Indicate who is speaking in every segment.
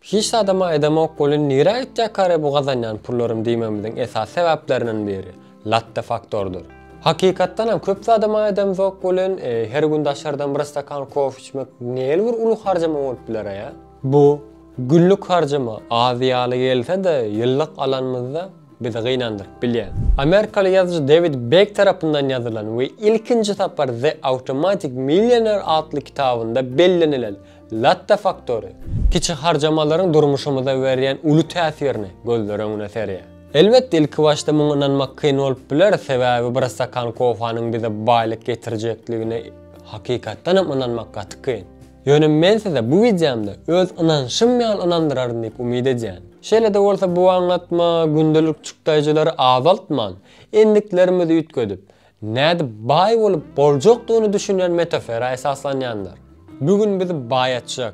Speaker 1: Hiç zadam aýdamok welin nirä gitjekary bu gazanýan pullarym diýmegimiziň esasy sebäpleriniň biri, latte faktordyr. Hakykatdanam köp zadam aýdamzok welin, her gün daşardan bir stakan kofe içmek nähili bir uly harjama bolup biler-ä? Bu günlük harjama az ýaly gelse-de, ýyllyk alanymyzda bizi gynandyryp bilýär. Amerikaly ýazyjy Dewid Bek tarapyndan ýazylan we ilkinji sapar The Automatic Millionaire atly kitabynda bellenilen Latta faktory, kiçi harjamalaryň durmuşymyza berýän uly täsirini gözler öňüne serýär. Elbetde, ilki başda muňa ynanmak kyn bolup biler, sebäbi bir stakan kofanyň bize baýlyk getirjekdigine hakykatdan hem ynanmak gaty kyn. Ýöne men size bu wideomda öz ynanşym ýaly ynandyraryn diýip umyt edýän. Şeýle-de bolsa bu aňlatma gündelik çykdaýjylary azaltman, endiklerimizi üýtgedip, Nädip baý bolup boljakdygyny düşünen metafera esaslanýandyr. Bu gün biz baýatjak.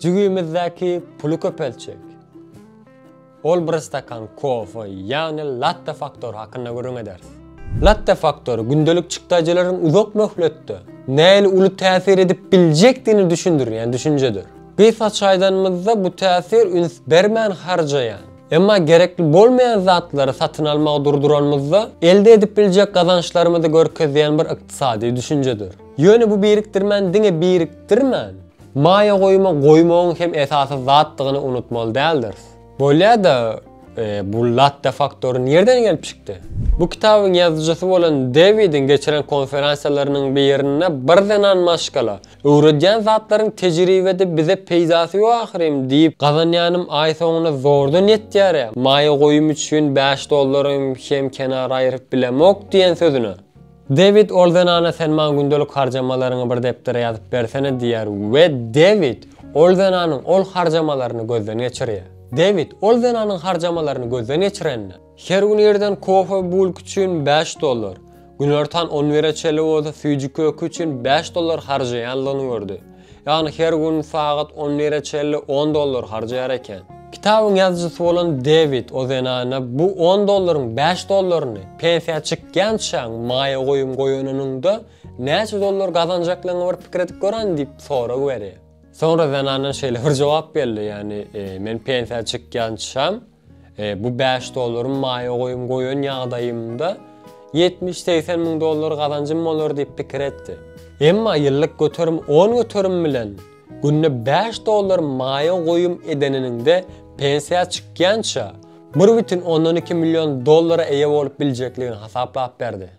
Speaker 1: Jübimizdäki puly köpeltjek. Ol bir stakan kofe, ýagny latte faktory hakynda gürrüň eder. Latte faktory gündelik çykdajylaryň uzak möhletde nähili uly täsir edip biljekdigini düşündirýän düşünjedir. Gysgaça aýdanymyzda bu täsir üns bermän harjaýan, Emma gerekli bolmaýan zatlary satyn almagy durduranymyzda, elde edip biljek gazançlarymyzy görkezýän bir ykdysady düşünjedir. Ýöne bu birikdirmäni diňe birikdirmän, maýa goýuma goýmagyň hem esasy zatdygyny unutmaly däldiris. Bolýa-da, bu latte faktory nirden gelip çykdy? Bu kitabyň ýazyjysy bolan Dewidiň geçiren konferensiýalarynyň birinde bir zenan maşgala, Öwredýän zatlaryň tejribede bize peýdasy ýok ahyrym diýip, gazanýanym aý soňuna zordan ýetýär-ä, maýa goýum üçin bäş dollarym hem kenara aýyryp bilemok diýen sözüne. Dewid ol zenana sen maňa gündelik harjamalaryňy bir depdere ýazyp bersene diýýär we Dewid ol zenanyň ol harjamalaryny gözden geçirýär. Dewid ol zenanyň harjamalaryny gözden geçirenine. Her gün irden kofe bulk üçin bäş dollar, günortan on bire çenli bolsa süýji köki üçin bäş dollar harjaýandygyny gördi. Ýagny her gün sagat on bire çenli on dollar harjaýar eken. Kitabyň ýazyjysy bolan Dewid o zenana bu on dollaryň bäş dollaryny pensiýa çykýançaň maýa goýum goýanynyňda näçe dollar gazanjaklygyňy bir pikir edip göräýiň diýip sorag berýär. Soňra zenandan şeýle bir jogap geldi, ýagny men pensiýa çykýançam, Bu bäş dollarymy maýa goýum goýan ýagdaýymda ýetmiş-segsen müň dollar gazanjym bolar diýip pikir etdi. Emma ýyllyk göterim on göterim bilen günde bäş dollar maýa goýum edeniniňde pensiýa çykýança bir bütin ondan iki million dollara eýe bolup biljekligini hasaplap berdi.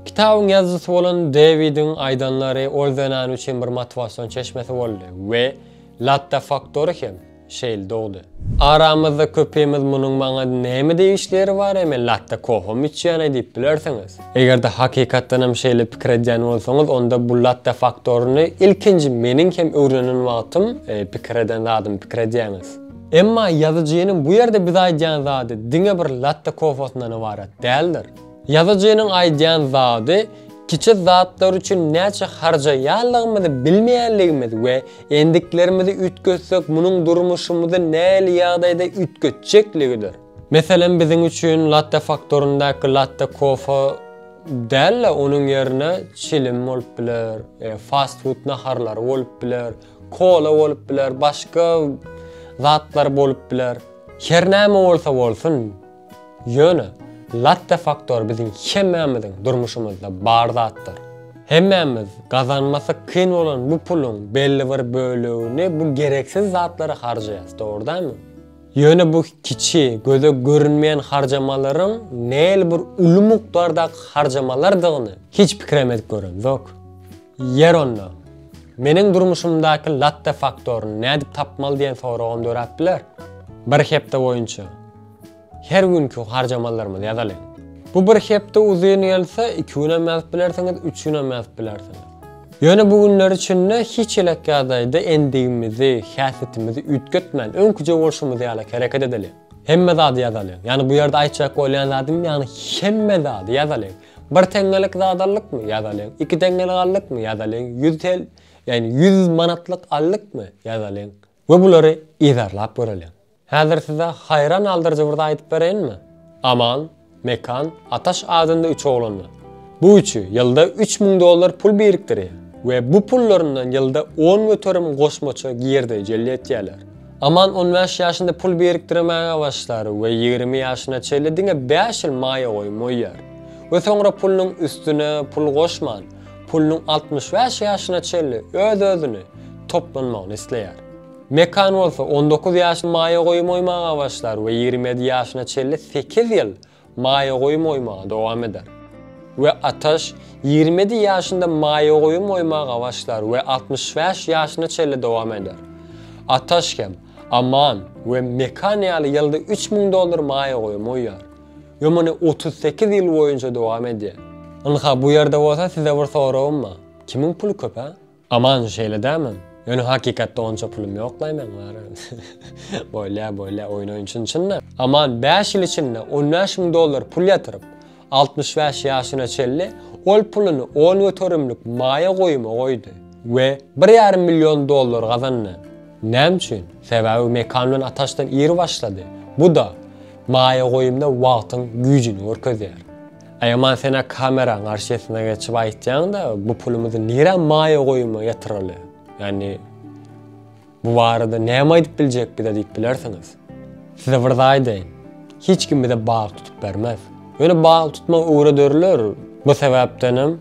Speaker 1: Kitabyň ýazyjysy bolan Dewidiň aýdanlary ol zenan üçin bir motiwasion çeşmesi boldy we Latte Faktory hem şeýle dogdy. Aramyzda köpimiz munuň maňa näme degişli ýeri bar, eme latte koham içýän-eý diýip bilersiňiz. Eger-de hakykatdanam şeýle pikir edýän bolsaňyz, onda bu latte faktoryny ilkinji meniň hem öwrenen wagtym pikir eden zadymy pikir edýäňiz. Emma ýazyjynyň bu ýerde bize aýdýan zady diňe bir latte kofasyndan ybarat däldir. Ýazyjynyň aýdýan zady, Kiçi zatlar üçin näçe harjaýanlygymyzy bilmeýänligimiz we endiklerimizi üýtgetsek munuň durmuşymyzy nähili ýagdaýda üýtgetjekligidir. Meselem biziň üçin latte faktoryndaky latte kofe däl-de onuň ýerine çilim bolup biler, fast food naharlary bolup biler, kola bolup biler, başga zatlar bolup biler. Her näme bolsa bolsun, Ýöne, latte faktory biziň hemmämiziň durmuşymyzda bar zatdyr. Hemmämiz gazanmasy kyn bolan bu puluň belli bir bölegini bu gereksiz zatlara harjaýarys, dogry dälmi? Ýöne bu kiçi, göze görünmeýän harjamalaryň nähili bir uly mukdardaky harjamalardygyny hiç pikirem edip göremzok. Ýer onda, meniň durmuşymdaky latte faktoryny nädip tapmaly diýen soragam döräp biler. Bir hepde boýunça Her günki harjamallarymyzy ýazalyň. Bu bir hepde uzyn gelse, iki günem ýazyp bilersiňiz, üç günem ýazyp bilersiňiz. Ýöne bu günler içinde hiç elek ýagdaýda endigimizi, häsiýetimizi üýtgetmän, öňküje bolşumyz ýaly hereket edeliň. Hemme zady ýazalyň. Ýagny bu ýerde aýtjak bolýan zadym, ýagny hemme zady ýazalyň. Bir teňňelik zat aldykmy? Ýazalyň. Iki teňňelik aldykmy? Ýazalyň. Ýüz tel, ýagny ýüz manatlyk aldykmy? Ýazalyň. We bulary yzarlap göreliň. Häzir size haýran galdyryjy bir zat aýdyp bereýinmi? Aman, Mekan, Ataş adynda üç oglan bar. Bu üçi ýylda üç müň dollar pul birikdirýär we bu pullaryndan ýylda on göterim goşmaça girdeji jelp etýärler. Aman on bäş ýaşynda pul birikdirmäge başlar we ýigrimi ýaşyna çenli diňe bäş ýyl maýa goýum goýýar we soňra pulunyň üstüne pul goşman, pulunyň altmyş bäş ýaşyna çenli öz-özüni toplanmagyny isleýär. Mekan bolsa on dokuz ýaşy maýa goýum oýmaga başlar we ýigrimi ýedi ýaşyna çenli sekiz ýyl maýa goýum oýmagy dowam eder. We Ataş ýigrimi ýedi ýaşynda maýa goýum oýmaga başlar we altmyş bäş ýaşyna çenli dowam eder. Ataş hem Aman we Mekan ýaly ýylda üç müň dollar maýa goýum oýýar. Ýo muny otuz sekiz ýyl boýunça dowam edýär. Ynha bu ýerde bolsa size bir soragym bar. Kimiň puly köp hä? Aman şeýle dämi? Ýöne hakykatda onça pulum ýoklaý meň bar. Bolýa bolýa oýun oýun çyn çynda. Aman bäş ýyl içinde on bäş müň dollar pul ýatyryp altmyş bäş ýaşyna çenli ol puluny on göterimlik maýa goýuma goýdy. We bir ýarym million dollar gazandy. Näme üçin? Sebäbi Mekan bilen Ataşdan iri başlady. Bu da. Maýa goýumda wagtyň güýjini görkezýär. Aýaman senä kameraň garşysyna geçip aýtýaňda bu pulumyzy nirä maýa goýuma ýatyraly? Ýagny bu barada näme aýdyp biljek bize diýip bilersiňiz. Size bir zat aýdaýyn. Hiç kim bize bag tutup bermez. Ýöne bag tutmagy öwrederler. Bu sebäpdenem.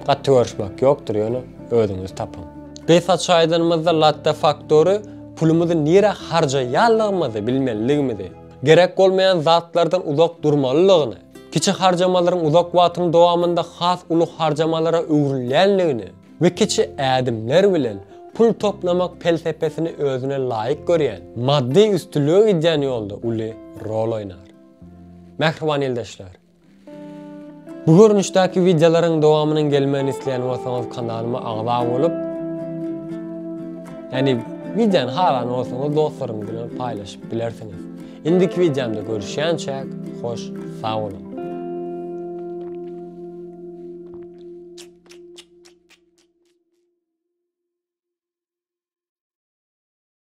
Speaker 1: Gaty görüşmek ýokdur ýöne özüňiz tapyň. Gysgaça aýdanymyzda Latte Factory pulumyzy nirä harjaýanlygymyzy bilmeliligimizi, gerek bolmaýan zatlardan uzak durmalylygyny, kiçi harjamalaryň uzak wagtyň dowamynda has uly harjamalara öwrülýänligini we kiçi ädimler bilen pul toplamak pelsepesini özüne laýyk görýän, maddy üstünlige gidýän ýolda uly rol oýnar. Mähriban ildeşler! Bu görnüşdäki wideolaryň dowamynyň gelmegini isleýän bolsaňyz kanalyma agza bolup, ýani wideony halan bolsaňyz dostlaryňyz bilen paýlaşyp bilersiňiz. Indiki wideomda görüşýänçäk, hoş sag boluň.